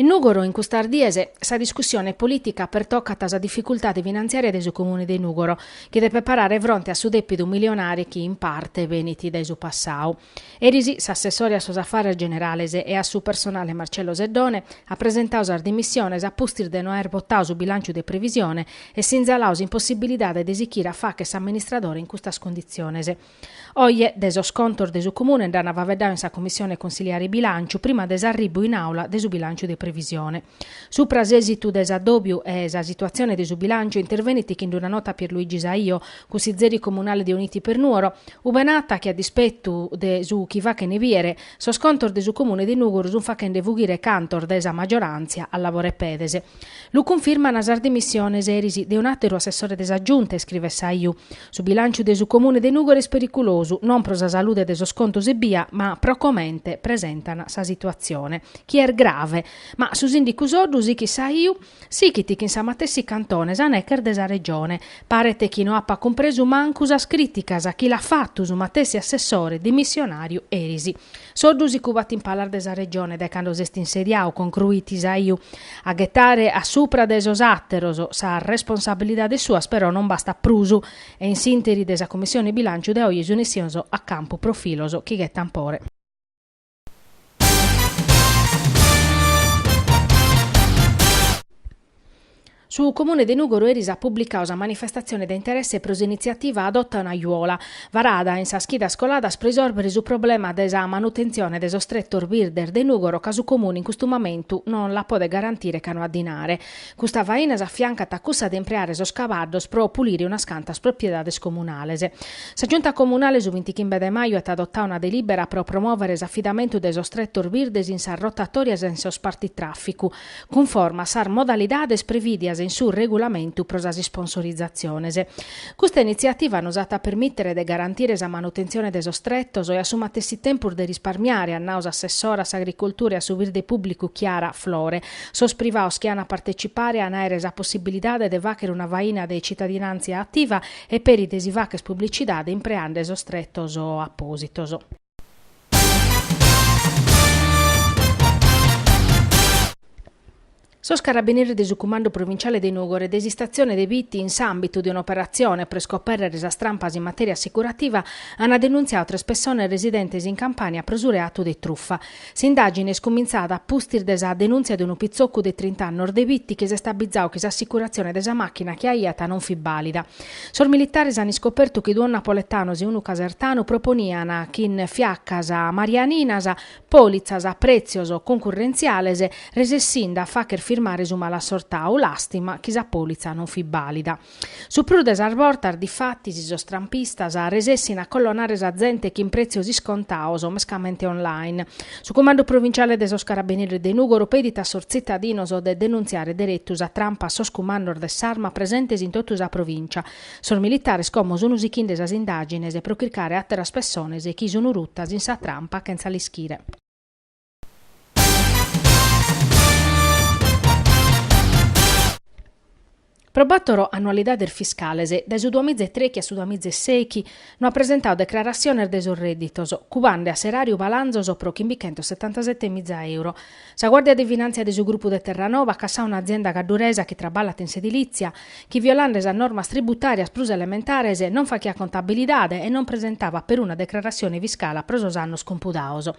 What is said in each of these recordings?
In Nùgoro in custas dies sa discussione polìtica pertocat sa dificultade finantziària de su Comune de Nùgoro, chi depet parare fronte a su dèpidu milionare chi in parte benit dae su passadu. Eris s'assessore a sos afares generales e a su personale Marcello Seddone at presentadu sas dimissiones a pustis de no aer votadu su bilànciu de previsione e sinzaladu s'impossibilidade de sichire a fagher s'amministradore in custas conditziones. Oje de sos contos de su Comune nd'an faveddadu in sa Commissione Consiliare Bilànciu prima de s'arribbu in Àula de su bilànciu de previsione. Supra s'èsitu de s'addòbiu e sa situatzione de su bilànciu intervenit chin d'una nota Pierluigi Saiu, cunsizeri comunale de Uniti per Nuoro, ube narat chi a dispetu de su chi fachene biere, sos contos de su Comune de Nùgoro sunt fachende fughire cantos de sa majoràntzia a lavore pedes. Lu cunfirman sas dimissiones eris de un'àteru assessore de sa Giunta, iscrivet Saiu. Su bilànciu de su Comune de Nùgoro est periculosu, non pro sa salude de sos contos ebbia, ma pro comente presentan sa situatzione, chi est grave. Ma su sìndicu Soddu sichit Saiu, sichit chin sa matessi cantone, sa neche est de sa Regione. Paret chi no apat cumpresu mancu sas crìticas chi l'at fatu su matessi assessore dimissionàriu eris. Soddu si cubat in palas de sa regione dae cando s'est insediadu, concruit Saiu. A ghetare a supra de sos àteros sas responsabilidades suas però non bastat prus e in s'ìnteri dae sa Cummissione Bilànciu de oje sunt issidos a campu profilos chi ghetan pore. Su Comune de Nùgoro eris at publicadu sa manifestatzione de interesse pro s'initziativa Adotta un'aiuola, varada in sas chidas coladas pro isòrbere su problema de sa manutentzione de sos tretos birdes de Nùgoro ca su Comune in custu momentu non la podet garantire ca no at dinare. Custa faina s'afiancat a cussa de impreare sos cabaddos pro pulire unas cantas propiedades comunales. Sa Giunta Comunale su bintichimbe de maju at adotadu una delìbera pro promòvere s'afidamentu de sos tretos birdes in sas rotatòrias e in sos partitràficu, cunforma a sas modalidades previdias in su Regulamentu pro sas isponsorizaziones. Custa initziativa nos at a permìtere de garantire sa manutentzione de sos tretos e a su matessi tempus de risparmiare, at nau s'assessora a s'Agricultura e a su Birde Pùblicu Chiara Flore, sos privados chi an a partetzipare an a àere sa possibilidade de fàghere una faina de tzitadinàntzia ativa e peri de si faghere publicidade impreende sos tretos apòsitos. Sos carabinieris de su Cumandu Provinciale de Nùgoro e de s'istatzione de Bitti in s'àmbitu de un'operatzione pro iscopèrrere sas trampas in matèria assicurativa ant denuntziadu tres pessones residentes in Campània pro su reatu de trufa. S'indàgine est cumintzada a pustis de sa denùntzia de unu pitzocu de trint'annos de Bitti chi s'est abbizadu chi s'assicuratzione de sa màchina chi aiat non fit bàlida. Sos militares ant iscopertu chi duos napoletanos e unu casertanu proponian chin fiacas marianinas pòlitzas a prètzios cuncurrentziales resessinde a fàghere firmare su malassortadu làstima chi sa pòlitza non fit bàlida. Su prus de sas bortas, difatis, sos trampistas resessint a collonare sa zente chin prètzios iscontados, mescamente online. Su Cumandu Provinciale de sos Carabineris de Nùgoro pedit a sos tzitadinos de denuntziare deretu sa trampa a sos cumandos de s'arma presentes in totu sa provìncia. Sos militares como sun sichinde sas indàgines pro chircare àteras pessones chi sun rutas in sa trampa chentza l'ischire. Pro bàtoro annualidades fiscales, dae su duamiza e trechi a su duamiza e sechi, no at presentadu declaratziones de sos rèdditos, cubande a s'eràriu balanzos pro chimbichentos setantasete miza euro. Sa Guàrdia de Finàntzia de su grupu de Terranova at cassadu un'azienda cadduresa chi traballat in s'edilìtzia, chi violande sas normas tributàrias prus elementares, non faghiat contabilidade e non presentava peruna declaratzione fiscala pro sos annos cumpudados.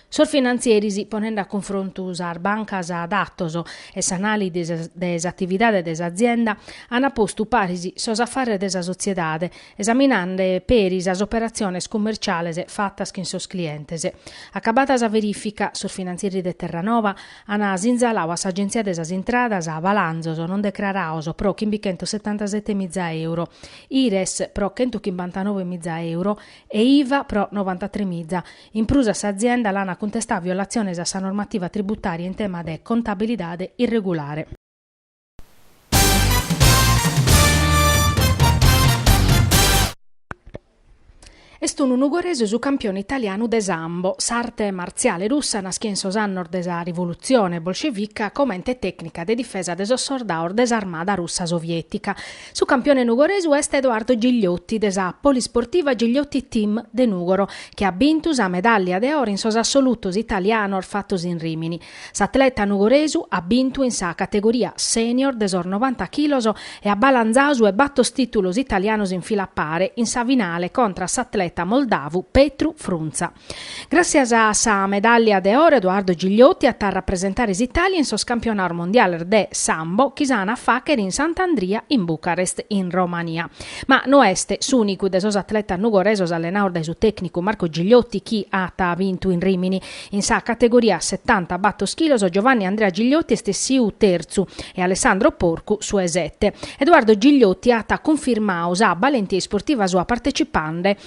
Sos finantzieris, ponende a cunfrontu sas bancas datos e s'anàlisi de s'atividade de s'azienda, ant postu paris sos afares de sa sotziedade, esaminande peri sas operatziones cummerciales fatas chin sos clientes. Acabada sa verìfica, sos finantzieris de Terranova ant sinzaladu a s'Agenzia de sas Intradas balanzos non decrarados pro chimbichentosetantasete miza euro, IRES pro chentuchimbantanove miza euro e IVA pro novantatremiza, In prus a s'azienda l'ant cuntestadu violatziones a sa normativa tributària in tema de contabilidade irregulare. Est unu nugoresu su campione italianu de Sambo, s'arte martziale russa nàschia in sos annos de sa Rivolutzione bolscevica comente tècnica de difesa de sos sordados de s'armada russa soviètica. Su campione nugoresu est Edoardo Gigliotti de sa Polisportiva Gigliotti Team de Nùgoro, chi at bintu sa medàllia de oro in sos assolutos italianos fatos in Rìmini. S'atleta nugoresu at bintu in sa categoria senior de sos novanta chilos e at balanzadu su 'e batos tìtulos italianos in fila a pare in sa finale contra s'atleta moldavu Petru Frunza. Gràtzias a sa medàllia de oro Edoardo Gigliotti at a rapresentare s'Itàlia in sos campionados mondiales de Sambo chi s'an a fàghere in Sant'Andria in Bucarest in Romania. Ma no est s'ùnicu de sos atletas nugoresos allenados dae su tècnicu Marco Gigliotti chi at bintu in Rimini. In sa categoria setanta batos chilos Giovanni Andrea Gigliotti est essiu tertzu e Alessandro Porcu su 'e sete. Edoardo Gigliotti at cunfirmadu sa balentia isportiva sua partecipande